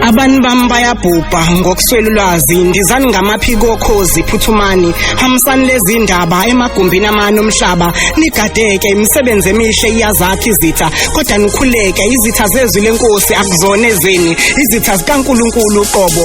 Abani bami bayabhubha ngokuswela ulwazi ndizani ngamaphiko okhozi phuthumani hambisani lezi ndaba emagumbini amani omhlaba nigadeke imisebenzi emihle iyazakha izitha kodwa nikhuleke izitha zezwi lenkosi akuzona ezeni izitha zikaNkuluNkulu uqobo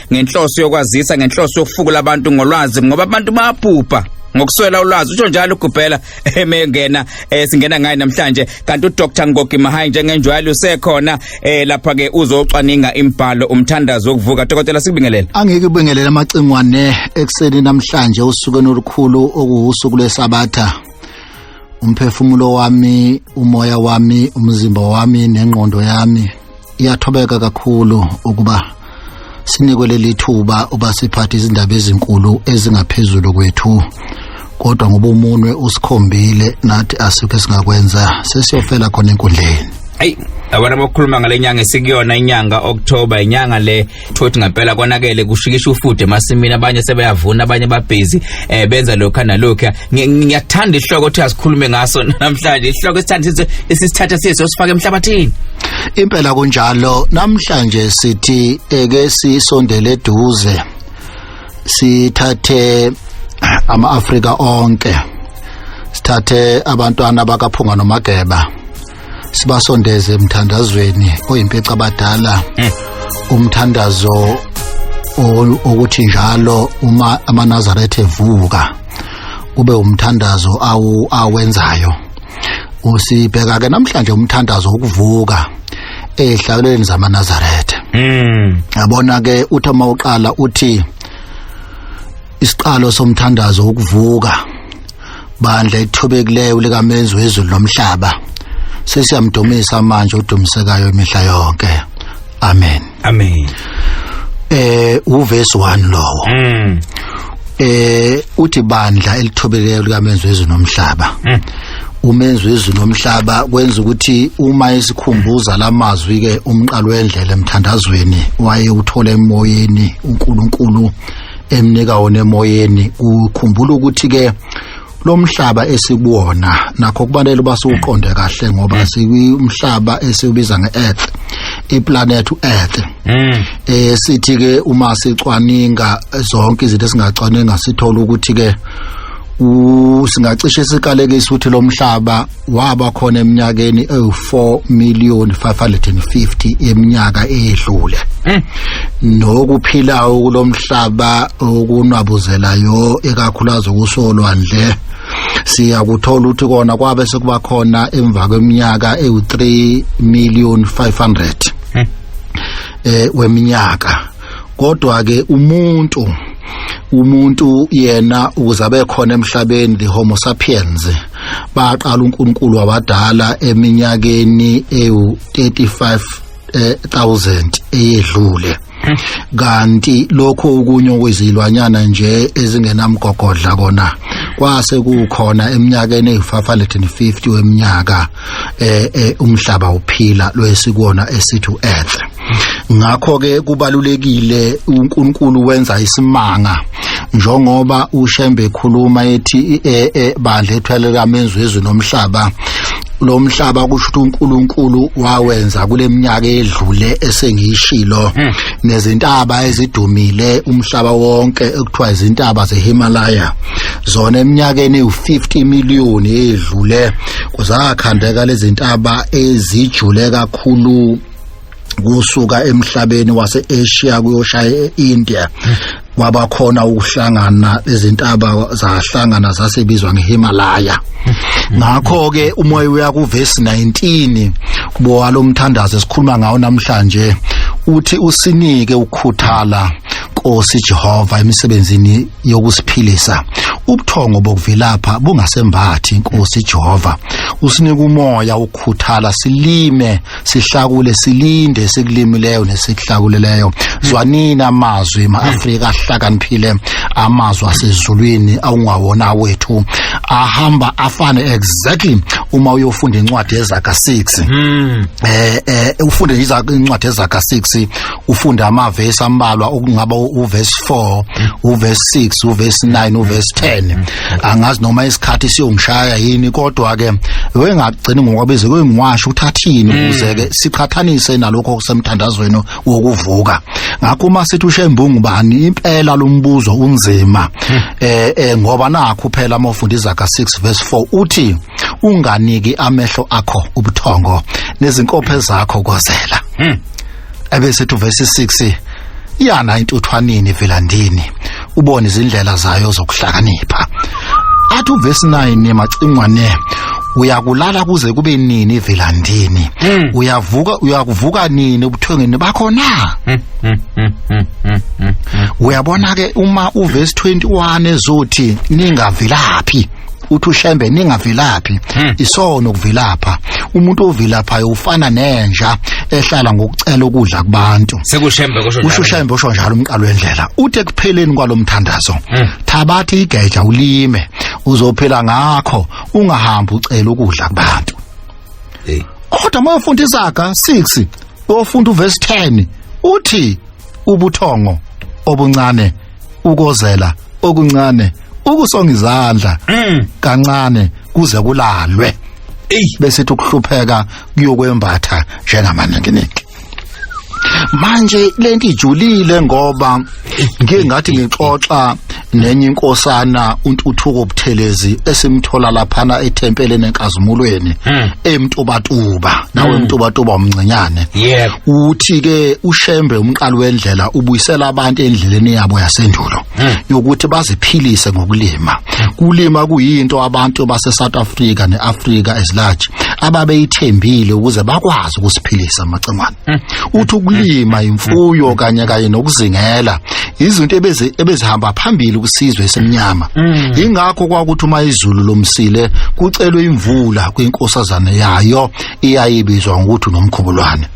ngenhloso yokwazisa ngenhloso yokufukula abantu ngolwazi ngoba abantu bayabhubha ngokuswela ulwazi usho njalo ugubhela emengena eh, singena ngaye namhlanje kanti uDr Ngogi Mahayi njengenjwayelo usekhona eh, lapha ke uzocwaninga imbhalo umthandazo wokuvuka dokotela sikubingelele angeke ubingelele amacingwane ekseni namhlanje usuku olukhulu okuwusuku lwesabatha umphefumulo wami umoya wami umzimba wami nengqondo yami iyathobeka kakhulu ukuba sinikwe leli thuba uba siphathe izindaba ezinkulu ezingaphezulu kwethu kodwa ngoba umunwe usikhombile nathi asikho esingakwenza sesiyofela khona enkundleni ayi abantu abakhuluma ngale nyanga esikuyona inyanga october inyanga le thothi ngempela konakele kushikisha ufude emasimini abanye sebeyavuna abanye babhizi eh benza lokho nalokho ngiyathanda ihloko ukuthi asikhulume ngaso namhlanje ihloko esithanda isisithatha siso sifake emhlabathini impela kunjalo namhlanje sithi eke sisondele eduze sithathe ama-afrika onke sithathe abantwana bakaphunga nomageba sibasondeze emthandazweni oyimpeca abadala mm. umthandazo ukuthi njalo uma amanazaretha evuka kube umthandazo awu awenzayo usibheka ke namhlanje umthandazo wokuvuka ezihlakuleni zamanazaretha mm. yabona ke uthi uma uqala uthi isiqalo somthandazo wokuvuka bandla ithobekileyo likamenzi wezulu lomhlaba sesiyamdumisa manje udumisekayo imihla yonke amen amen eh uverse 1 lowo mm. eh uthi bandla elithobekileyo likamenzi wezulu nomhlaba mm. umenzi wezulu nomhlaba kwenza ukuthi uma isikhumbuza lamazwi ke umqalo wendlela emthandazweni waye uthole emoyeni uNkulunkulu emnika wona emoyeni ukhumbula ukuthi ke lomhlaba esikuwona nakho kubalele uba siwuqonde kahle ngoba mm. sikumhlaba esiwubiza nge-earth iplanet u-earth mm. eh sithi ke uma sicwaninga zonke izinto esingacwaninga sithola ukuthi ke singacishe sikaleke isuthi lomhlaba waba khona eminyakeni ewu4 million 550 yeminyaka edlule eh. nokuphilayo kulomhlaba okunwabuzelayo ekakhulazi kusolwandle siyakuthola ukuthi kona kwabe sekuba khona emva kweminyaka ewu3 million 500 eh weminyaka kodwa ke umuntu umuntu yena ukuze abe khona emhlabeni the homo sapiens baqala uNkulunkulu wabadala eminyakeni ewu 35 eh, 1000 eyedlule kanti lokho okunye okwezilwanyana nje ezingenamgogodla kona kwase kukhona eminyakeni eyi-550 weminyaka eh, eh umhlaba uphila lwesikuona esithi uEarth ngakho ke kubalulekile uNkulunkulu wenza isimanga njengoba uShembe ekhuluma ethi eh, eh, bandla ethwele kamenzi wezwe nomhlaba lo mhlaba kusho ukuthi uNkulunkulu wawenza kuleminyaka edlule esengiyishilo hmm. nezintaba ezidumile umhlaba wonke ekuthiwa izintaba zeHimalaya zona eminyakeni u50 million edlule kuzakhandeka lezintaba ezijule kakhulu kusuka emhlabeni waseAsia kuyoshaya eIndia kwaba khona ukuhlangana izintaba zahlangana zasebizwa ngeHimalaya ngakho ke umoya uya kuverse 19 kubowa lomthandazo esikhuluma ngawo namhlanje uthi usinike ukukhuthala Nkosi Jehova emisebenzini yokusiphilisa ubuthongo bokuvilapha bungasembathi inkosi Jehova usinika umoya ukhuthala silime sihlakule silinde sikulimileyo nesihlakuleleyo zwanini amazwi maAfrika ahlakaniphile amazwi asezulwini awungawona wethu ahamba afane exactly uma uyofunda incwadi ezaka 6 hmm. eh eh ufunde incwadi ezaka 6 ufunde amavesi ambalwa okungaba uverse 4 uverse 6 uverse 9 uverse 10 angazi noma isikhathi siyongishaya yini kodwa ke wengagcini ngokwabize kwengiwasho uthathini mm. ukuze ke siqhathanise nalokho kusemthandazweni wokuvuka ngakho uma sithi ushembungu bani impela lombuzo unzima hmm. eh, eh ngoba nakho phela uma ufunda izaga 6 verse 4 uthi unganiki amehlo akho ubuthongo nezinkophe zakho kozela hmm. abesethu verse 6 iyana intuthwanini velandini ubone izindlela zayo zokuhlakanipha athi uverse 9 macingwane uyakulala kuze kube nini velandini hmm. uyavuka uyakuvuka nini ubuthongeni bakho na hmm, hmm, uyabona ke uma uverse 21 ezothi ningavilaphi uthi ushembe ningavilaphi hmm. isono kuvilapha umuntu ovilaphayo ufana nenja ehlala ngokucela ukudla kubantu sekushembe kusho njalo ushembe usho njalo umqalo wendlela uthe kupheleni kwalomthandazo hmm. thabathi igeja ulime uzophila ngakho ungahambi ucela ukudla kubantu hey kodwa mayofunda izaga 6 ofunda uverse 10 uthi ubuthongo obuncane ukozela okuncane ukusonga izandla Mm. kancane kuze kulalwe Ey. besithi ukuhlupheka kuyokwembatha njengamaninginiki manje lento ijulile ngoba ngike ngathi ngixoxa nenye inkosana untuthuko buthelezi esimthola laphana ethempeleni enkazimulweni Hmm. emtubatuba nawe mtubatuba umncinyane Yebo. uthi ke ushembe umqalo wendlela ubuyisela abantu endleleni yabo yasendulo hmm. yokuthi baziphilise ngokulima hmm. kulima kuyinto abantu base South Africa neAfrica as large ababeyithembile ukuze bakwazi ukusiphilisa amacengwane hmm. uthi ukulima imfuyo kanye kanye nokuzingela izinto ebeze ebezihamba phambili kusizwe esemnyama ingakho kwakuthi uma izulu lomsile kucelwe imvula kwinkosazana yayo iyayibizwa ngokuthi nomkhubulwane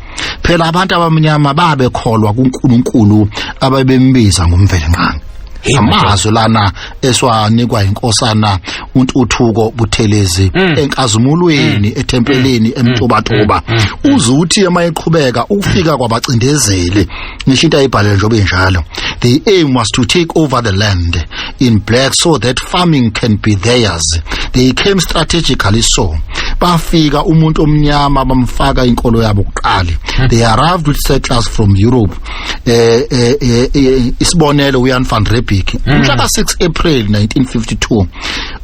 phela abantu abamnyama babekholwa kuNkulunkulu ababembiza ngomvelinqangi amazwi lana esiwanikwa inkosana untuthuko buthelezi mm. enkazimulweni mm. ethempelini mm. emtobatoba uzuthi emayiqhubeka ukufika kwabacindezeli ngisho into ayibhalele njengoba injalo the aim was to take over the land in black so that farming can be theirs they came strategically so bafika umuntu omnyama bamfaka inkolo yabo kuqali hmm. they arrived with settlers from Europe eh, eh, eh, eh isibonelo uYan van Riebeeck hmm. umhla ka 6 April 1952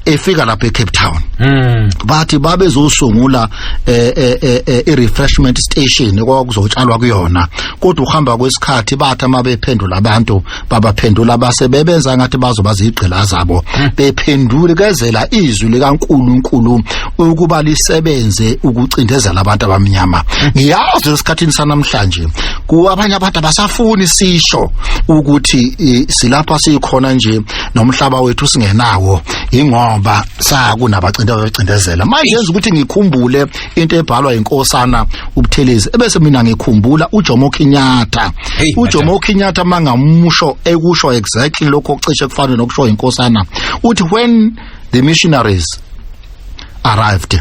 efika lapha eCape Town mm. bathi babezosungula eh, eh, eh, eh i-refreshment station kwakuzotshalwa kuyona kodwa uhamba kwesikhathi bathi uma bephendula abantu babaphendula abasebebenza ngathi bazoba zigqila zabo hmm. bephendule kezela izwi likaNkuluNkulu ukuba lisebenze ukucindezela abantu abamnyama hmm. ngiyazi esikhathini sanamhlanje kuabanye abantu abasafuni sisho ukuthi silapha sikhona nje nomhlaba wethu singenawo ingoba sakunabacinta becindezela manje yenza ukuthi ngikhumbule into ebhalwa inkosana ubuthelezi ebese mina ngikhumbula uJomo Kenyatta uJomo Kenyatta mangamusho ekusho exactly lokho ocishe kufana nokusho inkosana uthi when the missionaries arrived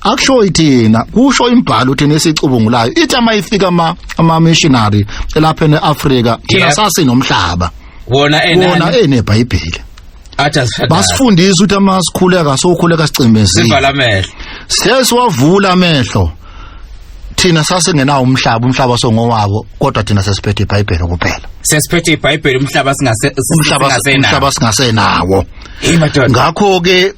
akusho ithina kusho imbhalo uthina esicubungulayo ithi ama ifika ama ama missionary elapha eAfrika thina Yep. sasinomhlaba wona wona enani enebhayibheli athi asifadayo basifundisa ukuthi ama sikhuleka sokhuleka sicimezile sivala amehlo sesiwavula amehlo thina sasingenawo umhlaba umhlaba songowabo kodwa thina sesiphethe ibhayibheli kuphela sesiphethe ibhayibheli umhlaba singase umhlaba singasenawo. umhlaba singasenawo ngakho ke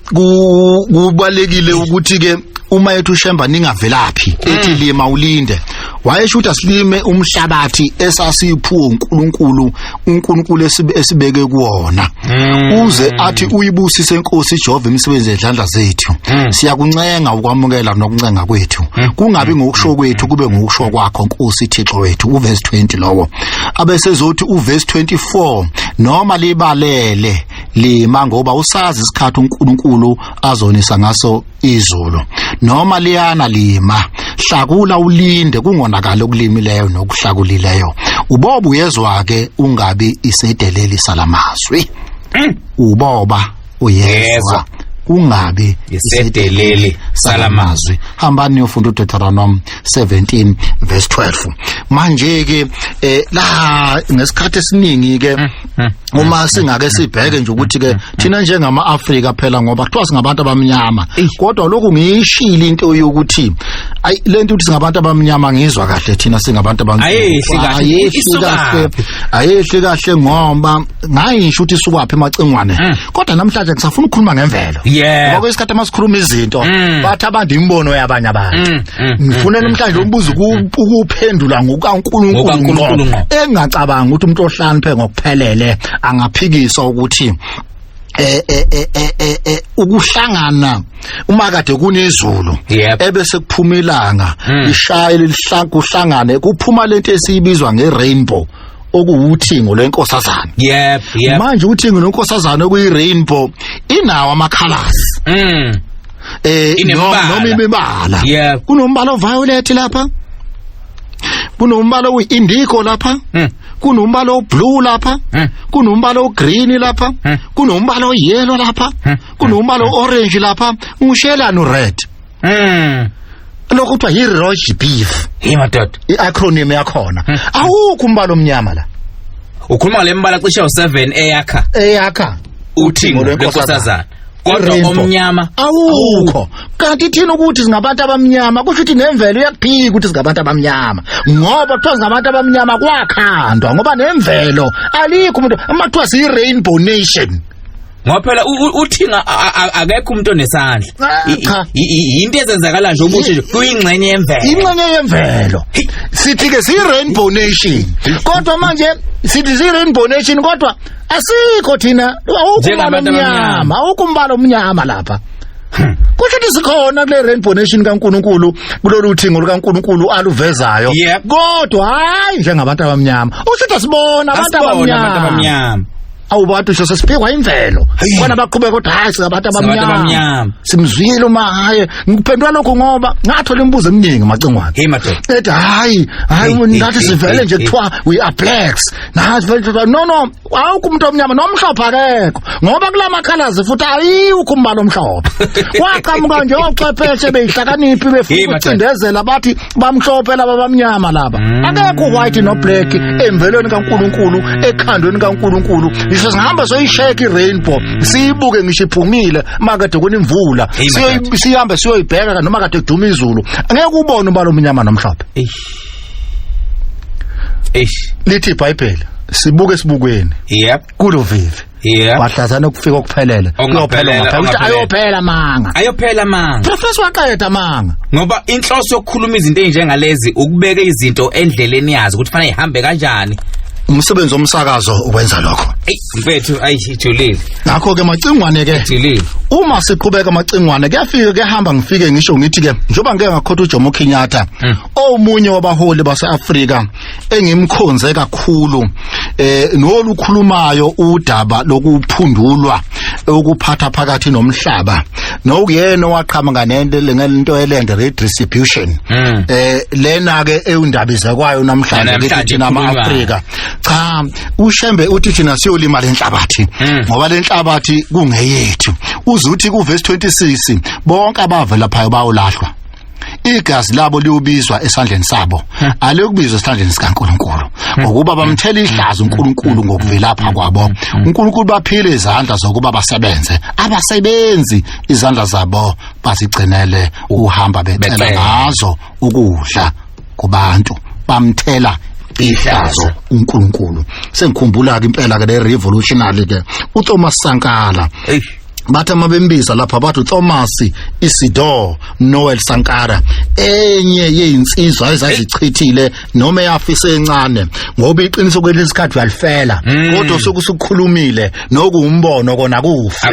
kubalekile ukuthi ke uma yethu shemba ningavelaphi mm. ethi lima ulinde wayesho ukuthi asilime umhlabathi esasiphuo uNkulunkulu uNkulunkulu esibeke kuona mm. uze athi uyibusise inkosi Jehova imisebenzi yezandla zethu mm. siyakuncenga ukwamukela nokuncenga kwethu kungabi ngokusho kwethu kube ngokusho kwakho Nkosi Thixo wethu uverse 20 lowo abesezothi uverse 24 noma libalele lima ngoba usazi isikhathi uNkulunkulu azonisa ngaso izulu noma liyana lima hlakula ulinde kungonakala okulimileyo nokuhlakulileyo ubobu uyezwa ke ungabi isedeleli salamazwi mm. uboba uyezwa ungabi isedeleli salamazwi hambani niyofunda uDeuteronomy 17 verse 12 manje ke eh la ngesikhathi esiningi ke mm. Hmm. uma singake sibheke nje ukuthi ke thina njengama Africa phela ngoba kuthiwa singabantu abamnyama kodwa lokhu ngiyishili into yokuthi ay lento ukuthi singabantu abamnyama ngizwa kahle thina singabantu abamnyama ayehli kahle ayehli kahle ngoba ngayisho ukuthi sukwaphi emacingwane hmm. kodwa namhlanje ngisafuna ukukhuluma ngemvelo ngoba kwesikhathi masikhuluma izinto hmm. bathi abantu imbono yabanye abantu mm, ngifuna mm, namhlanje mm, umbuzo ukuphendula ngokukaNkulunkulu ngqo engacabangi ukuthi umuntu ohlaniphe ngokuphelele angaphikiswa ukuthi eh eh eh eh, eh, eh ukuhlangana uma kade kunezulu ebese kuphuma ilanga hmm. lishaye lihlanku uhlangane kuphuma lento esiyibizwa ngerainbow okuwuthingo lwenkosazana yep yep manje uthingo lwenkosazana okuyi rainbow inawo amakhalasi mm eh Inemibala. noma imibala Yeah. kunombala oviolet lapha kunombala oyi-indigo lapha Mm. kunombala oblue lapha Mm. kunombala ogreen lapha Mm. kunombala oyellow lapha Mm. kunombala orange lapha ngishelani ured Mm. lokho kuthiwa yi-roge beef Hey madoda. i-acronym yakhona Mm. awukho umbala omnyama la Ukhuluma ngale mbala cishe u7 eyakha eyakha uthingo Uthingo lwenkosazana. lwenkosazana. kodwa Rainbow. omnyama awukho kanti thina ukuthi singabantu abamnyama kusho ukuthi nemvelo iyakuphika ukuthi singabantu abamnyama ngoba kuthiwa singabantu abamnyama kwakhandwa ngoba nemvelo alikho umuntu uma kuthiwa siyi-rainbow nation ngoba phela u- u- uthinga a- a- akekho umuntu onesandla Ah, I- i- cha. i- i- yinto ezenzakala nje ubuhle nje kuyingxenye yemvelo inxenye yemvelo sithi-ke siyi-rainbow nation kodwa manje sithi siyi-rainbow nation kodwa asikho thina awukho umbala Njengabantu abamnyama. omnyama awukho umbala omnyama lapha kusho ukuthi sikhona kule rainbow nation kaNkuluNkulu kulolu thingo lukaNkuluNkulu aluvezayo Yep. kodwa hayi njengabantu abamnyama usho ukuthi asibona abantu Asibona abantu abamnyama abamnyama. awubantu nje sesiphikwa imvelo Hhayi. bona baqhubeka kodwa hayi singabantu Singabantu abamnyama abamnyama. simzwile uma hayi ngiphendula lokho ngoba ngathola imibuzo eminingi macingwane Hey madoda. ethi hayi hayi Hey, hey, ngathi hey, sivele hey, nje hey. kuthiwa we are blacks nazi vele ndoda no no awukho umuntu omnyama nomhlophe akekho ngoba kula makhalazi futhi ayiwukho umbala omhlophe kwaqhamuka nje ochwepheshe beyihlakaniphi befuna Yima, ukucindezela bathi bamhlophe laba bamnyama laba akekho white no black emvelweni kaNkuluNkulu ekhandweni kaNkuluNkulu ngisho singihamba soyisheka irainbow siyibuke ngisho iphumile makade kunimvula Hey, my Siyoyi- sihambe siyoyibheka noma kade duma izulu angeke ubone umbala omnyama nomhlophe Eish. eish lithi ibhayibheli sibuke sibukweni yep kulo vivi yep bahlazana ukufika okuphelele kuyophelela ukuthi ayophela manga ayophela manga professor waqeda manga ngoba inhloso yokukhuluma izinto enjengalezi ukubeka izinto endleleni yazo ukuthi fanele ihambe kanjani umsebenzi omsakazo ukwenza lokho mfethu ayi ijulile ngakho ke macingwane ke ijulile uma siqhubeka macingwane kuyafika kuyahamba ngifike ngisho ngithi ke njoba ngeke ngakhotha uJomo Kenyatta hmm. omunye wabaholi baseAfrika engimkhonze kakhulu eh nolukhulumayo udaba lokuphundulwa ukuphatha phakathi nomhlaba nokuyena owaqhama nganento lengento elende redistribution hmm. eh lena ke eyundaba izakwayo namhlanje ke thina ama Afrika cha ushembe uthi thina siyolima lenhlabathi hmm. ngoba lenhlabathi kungeyethu uzuthi ku verse 26 bonke abavela phayo bawolahlwa igazi labo liubizwa esandleni sabo hmm. aliyokubizwa esandleni sikaNkuluNkulu hmm. ngokuba bamthela ihlazo uNkuluNkulu ngokuvelapha kwabo uNkuluNkulu baphile izandla zokuba basebenze abasebenzi izandla zabo bazigcinele uhamba becela ngazo ukudla kubantu bamthela ihlazo uNkulunkulu sengikhumbula ke impela ke le revolutionary ke uThomas Sankala hey bathi uma bembiza lapha bathi uThomas Isidor Noel Sankara enye yezinsizwa ezazichithile noma eyafisa encane ngoba iqiniso kwelesikhathi uyalifela hmm. kodwa usuku usukhulumile nokuwumbono kona kufi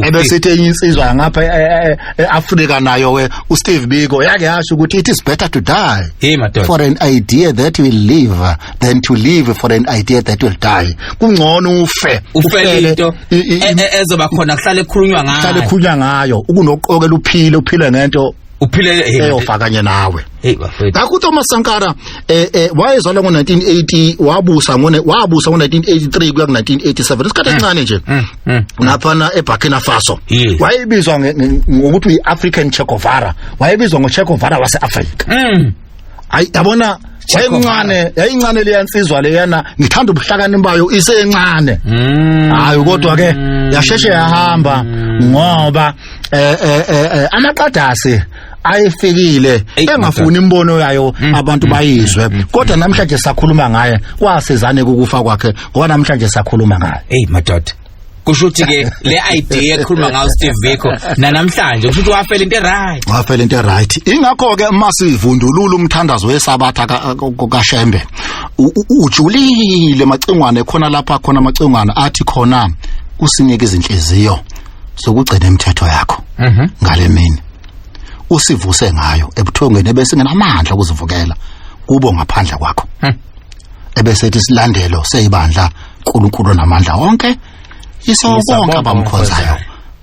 ebesithi enye insizwa ngapha eAfrika e, e, nayo ke uSteve Biko yake yasho ukuthi it is better to die hey madoda for an idea that will live than to live for an idea that will die kungcono ufe ufele into e- e- e- ezoba khona kuhlale khulunywa ngayo kuhlale khulunywa ngayo ukunoqokela uphile uphile ngento uphile eyofakanye nawe hey bafethu ngakho uThomas Sankara eh eh wayezalwa ngo1980 wabusa ngone wabusa ngo1983 kuya ku1987 isikhathi eh, esincane nje eh, eh, naphana eBurkina Faso wayebizwa ngokuthi uyiAfrican Che Guevara wayebizwa ngoChe Guevara waseAfrika mm. ayi yabona wayencane yayincane leya nsizwa leyana ngithanda ubuhlakani bayo isencane mm. hayi kodwa ke yasheshe yahamba mm. ngoba eh eh, eh, eh amaqadasi ayifikile Eyi, engafuni imbono yayo Mm, abantu mm, bayizwe mm, mm, kodwa namhlanje sakhuluma ngaye kwasizane kukufa kwakhe ngoba namhlanje sakhuluma ngaye eyi madoda kusho ukuthi ke le idea ekhuluma ngayo steve biko nanamhlanje kusho ukuthi wafela into eright wafela into right ingakho ke uma sivundulula umthandazo wesabatha ka- ka- kashembe u- u- ujulile macingwane khona lapha khona macingwane athi khona kusinike izinhliziyo sokugcina imithetho yakho Mhm. ngale mini usivuse ngayo ebuthongweni ebese ngenamandla okuzivukela kubo ngaphandle kwakho hmm. ebese ethi silandelo seyibandla uNkulunkulu namandla wonke isonke abamkhonzayo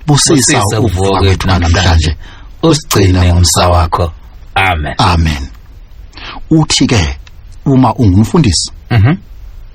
busisa ukuvuka kwethu namhlanje usigcina ngomsa wakho amen amen uthi ke uma ungumfundisi mhm mm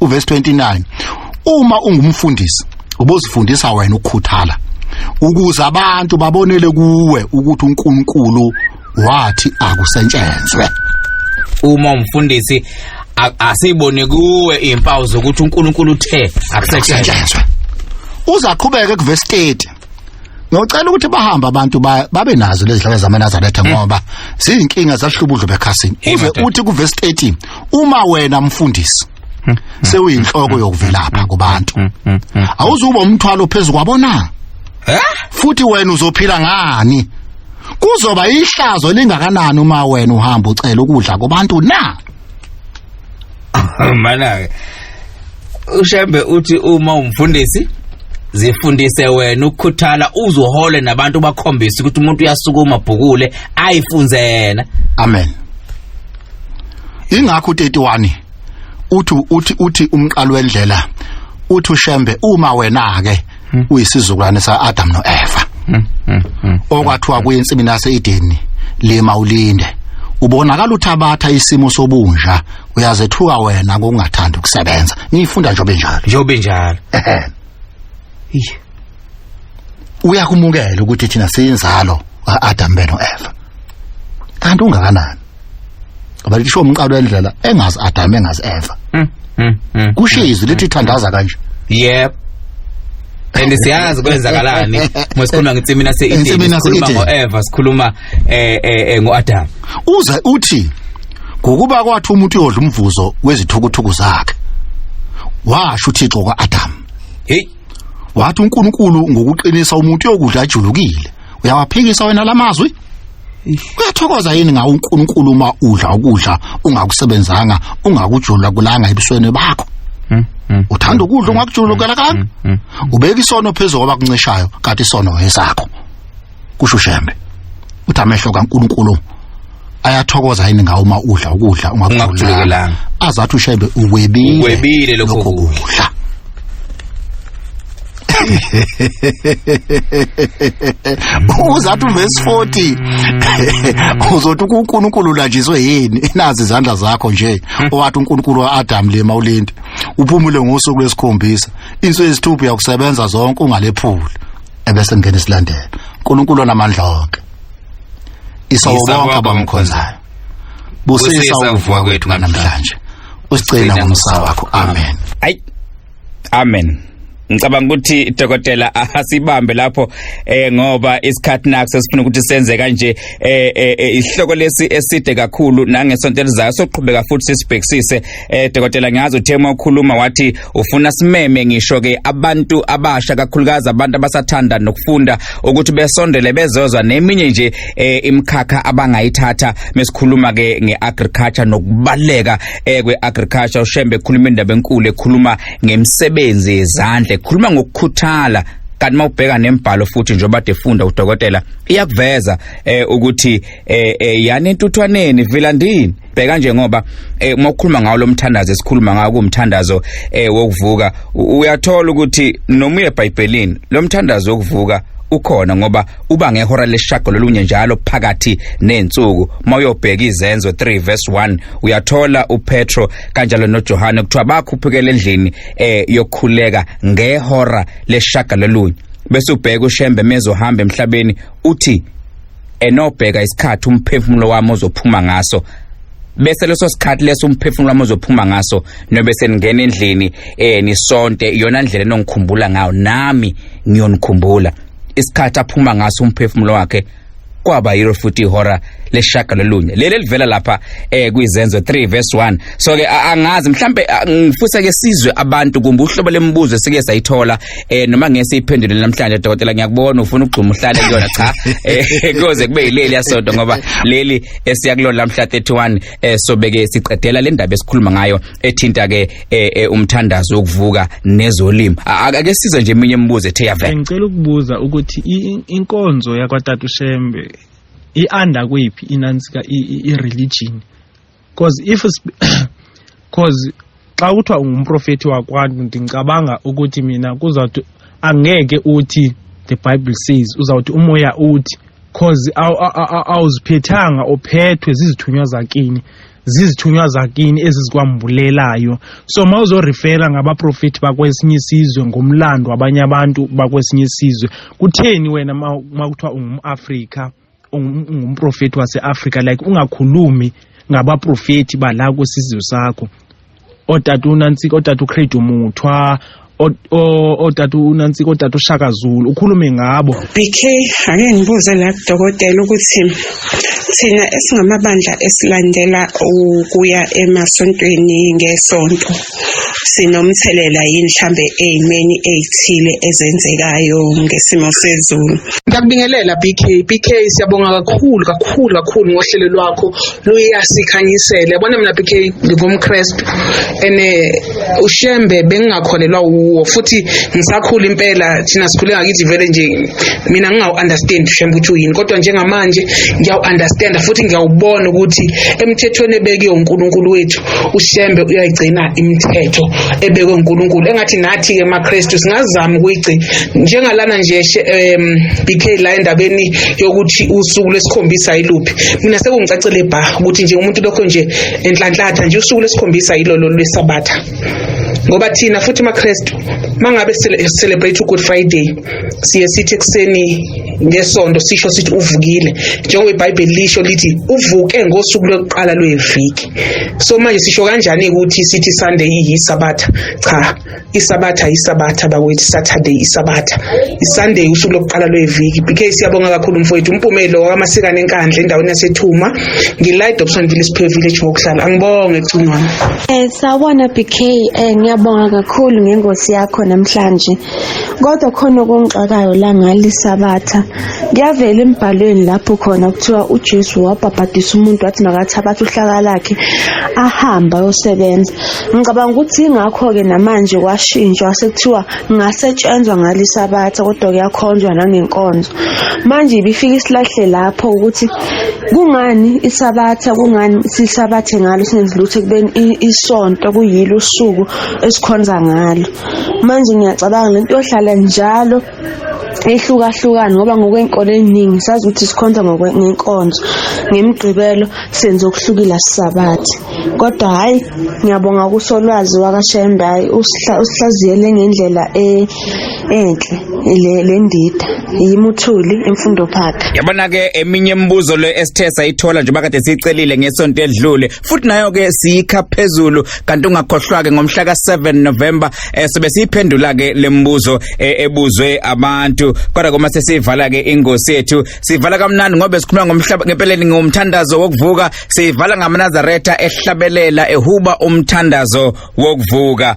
uverse 29 uma ungumfundisi ubozifundisa wena ukukhuthala ukuze abantu babonele kuwe ukuthi uNkulunkulu wathi akusentshenzwe uma umfundisi asibone kuwe impawu zokuthi uNkulunkulu uthe akusetshenzwe uzaqhubeka kuverse 30 ngiyocela ukuthi bahambe abantu babe nazo lezi dlala zamanazaretha hmm. ngoba ziyinkinga zahlubudlo bekhasini uze uthi ku verse 13 uma wena mfundisi hmm. Hmm. sewuyinhloko yokuvelapha kubantu awuzuba umthwalo phezulu kwabona eh? futhi wena uzophila ngani kuzoba ihlazo lingakanani uma wena uhamba ucela ukudla kubantu na Mana-ke uShembe uthi uma umfundisi zifundise wena ukukhuthala uzohole nabantu bakhombise ukuthi umuntu uyasukuma bhukule ayifunze yena amen ingakho u31 uthi uthi uthi umqalo wendlela uthi ushembe uma wena ke hmm. uyisizukulwane sa Adam no Eva hmm, hmm, okwathiwa kuyinsibi nase Edeni lima ulinde ubonakala uthabatha isimo sobunja uyazethuka wena ngokungathanda ukusebenza ngiyifunda njobe njalo njobe njalo uyakumukela ukuthi thina siyinzalo Adam beno Eva kanti ungakanani ngoba lisho umqalo elidlala engazi adame engazi ever Mm, mm, mm. kusho izwi lithi thandaza kanje Yep. And siyazi kwenzakalani. Masikhuluma ngithi mina se Ngithi mina se sikhuluma Eden. ngo Eva, sikhuluma eh eh eh, ngo Adam. uze uthi ngokuba kwathi umuntu uyodla umvuzo wezithukuthuku zakhe washo uthixo kwa-adam Hey. wathi unkulunkulu ngokuqinisa umuntu uyokudla ajulukile uyawaphikisa wena la mazwi uyathokoza yini ngawo uNkulunkulu uma udla ukudla ungakusebenzanga ungakujula kulanga ebusweni bakho hmm, hmm. uthanda ukudla ungakujulukela hmm, kanga ubeka isono phezulu kwaba kuncishayo kanti isono esakho kusho ushembe uthi amehlo kaNkulunkulu ayathokoza yini ngawo uma udla ukudla ungakujulukelanga azathi ushembe uwebile lokho kudla uzathi uvesi 40 uzothi uNkulunkulu ulanjiswe yini nazi izandla zakho nje owathi uNkulunkulu waAdam lema ulindi uphumule ngosuku lwesikhombisa insuku yesithupha yakusebenza zonke ungalephuli ebese ngene silandela uNkulunkulu onamandla onke isawubonga abamkhonzayo busisa ukuvuka kwethu namhlanje usigcina ngomsa wakho amen ayi amen ngicabanga ukuthi dokotela asibambe lapho eh ngoba isikhathi nakho sesifuna ukuthi senze kanje eh, eh, eh isihloko lesi eside kakhulu nangesonto elizayo soqhubeka futhi sisibhekisise eh dokotela ngiyazi uthe uma ukhuluma wathi ufuna simeme ngisho ke abantu abasha kakhulukazi abantu abasathanda nokufunda ukuthi besondele bezozwa neminye nje eh imkhakha abangayithatha mesikhuluma ke ngeagriculture nokubaleka eh kweagriculture uShembe ekhuluma indaba enkulu ekhuluma ngemisebenzi yezandla ekhuluma ngokukhuthala kanti mawubheka nembhalo futhi njengoba defunda udokotela iyakuveza eh ukuthi eh, eh yani intuthwaneni vilandini bheka nje ngoba eh, uma ukhuluma ngawo lomthandazo esikhuluma ngawo kumthandazo eh, wokuvuka uyathola ukuthi noma uye eBhayibhelini lomthandazo wokuvuka ukhona ngoba uba ngehora leshago lolunye njalo phakathi nensuku mawuyobheka izenzo 3 verse 1 uyathola uPetro kanjalo noJohane kuthiwa bakhuphukele endlini eh yokukhuleka ngehora leshaga lolunye bese ubheka uShembe mezohamba emhlabeni uthi enobheka isikhathi umphefumulo wami ozophuma ngaso bese leso sikhathi leso umphefumulo wami ozophuma ngaso nobe seningena endlini eh nisonte iyona ndlela enongikhumbula ngayo nami ngiyonikhumbula isikhathi aphuma ngaso umphefumulo wakhe kwaba yilo futhi ihora leshaka lolunye leli livela lapha eh kwizenzo 3 verse 1 so ke angazi mhlambe ngifuse ke sizwe abantu kumbe uhlobo lemibuzo esike sayithola eh noma ngeke siyiphendule namhlanje dokotela ngiyakubona ufuna ukugxuma uhlale kuyona cha eh kuze kube yileli yasonto ngoba leli esiyakulona lamhla 31 eh sobeke siqedela le ndaba esikhuluma ngayo ethinta ke eh, eh, umthandazo wokuvuka nezolimo ake size nje eminye imibuzo ethe yavela ngicela ukubuza ukuthi inkonzo yakwaTatu Shembe ianda kuyiphi inansi ka i-religion cause if cause xa kuthiwa ungumprofethi wakwantu ndicabanga ukuthi mina kuzawuthi angeke uthi the bible says uzawuthi umoya uthi cause awuziphethanga uphethwe zizithunywa zakini zizithunywa zakini ezizikwambulelayo so ma uzorifera ngabaprofethi bakwesinye isizwe ngomlando wabanye abantu bakwesinye isizwe kutheni wena ma kuthiwa ungumafrika ungumprofethi wase-afrika like ungakhulumi ngabaprofethi bala kwesizwe sakho otata unantsika otata ucrade umuthwa otata unantsika otata ushaka zulu ukhulume ngabo bk ake ngibuze la kudokotela ukuthi thina esingamabandla esilandela ukuya emasontweni ngesonto sinomthelela yini mhlambe eyimeni ezithile ezenzekayo ngesimo sezulu ngiyakubingelela BK BK siyabonga kakhulu kakhulu kakhulu ngohlelo lwakho luyasikhanyisela yabona mina BK ngingumchrist ene eh, ushembe bengingakholelwa wuwo futhi ngisakhula impela thina sikhule ngakithi vele nje mina ngingawu-understand ushembe ukuthi uyini kodwa njengamanje ngiyawu-understand futhi ngiyawubona ukuthi emthethweni ebekiwe unkulunkulu wethu ushembe uyayigcina imithetho ebekwe uNkulunkulu engathi nathi ke maKristu singazama ukuyigcina njengalana nje um BK la endabeni yokuthi usuku lesikhombisa yiluphi mina sekungicacele bha ukuthi nje umuntu lokho nje enhlanhlatha nje usuku lesikhombisa yilolo lwesabatha ngoba thina futhi maKristu mangabe celebrate uGood Friday siye sithi ekuseni ngesonto sisho sithi uvukile njengoba ibhayibheli lisho lithi uvuke ngosuku lokuqala lweviki so manje sisho kanjani ukuthi sithi sunday iyisabatha cha isabatha isabatha bakwethu saturday isabatha isunday usuku lokuqala lweviki bk siyabonga kakhulu mfowethu umpumelo wakamasikane enkandla endaweni yasethuma ngilight opson village pay village ngokuhlala angibonge cingwana um eh, sawubona bk um eh, ngiyabonga kakhulu ngengosi yakho namhlanje kodwa khona okungixakayo la ngalisabatha kuyavela embhalweni lapho khona kuthiwa uJesu wabhabhadisa umuntu wathi makathabathe uhlaka lakhe ahambe ayosebenza ngicabanga ukuthi ingakho-ke namanje kwashintshwa sekuthiwa ngasetshenzwa ngalisabatha kodwa kuyakhonzwa nangenkonzo manje ibifika isilahle lapho ukuthi kungani isabatha kungani sisabathe ngalo singenzi lutho ekubeni isonto kuyilo usuku esikhonza ngalo manje ngiyacabanga lento yohlala njalo ehlukahlukana ngoba ngokwenkolo eningi sazi ukuthi sikhonza ngenkonzo ngemigqibelo senze okuhlukile asisabathi kodwa hhayi ngiyabonga kusolwazi wakashembe hhayi usihlaziyele ngendlela e, enhle le ndida yimuthuli emfundo phakha yabona-ke eminye imibuzo le esithe sayithola njengoba kade siyicelile ngesonto edlule futhi nayo ke siyikha phezulu kanti ungakhohlwa ke ngomhla ka7 November eh, sobe siyiphendula ke lembuzo eh, ebuzwe abantu kodwa kuma sesivala ke ingosi yethu sivala kamnandi ngobe sikhuluma ngomhlaba ngempeleni ngomthandazo wokuvuka sivala ngamanazaretha ehlabelela ehuba umthandazo wokuvuka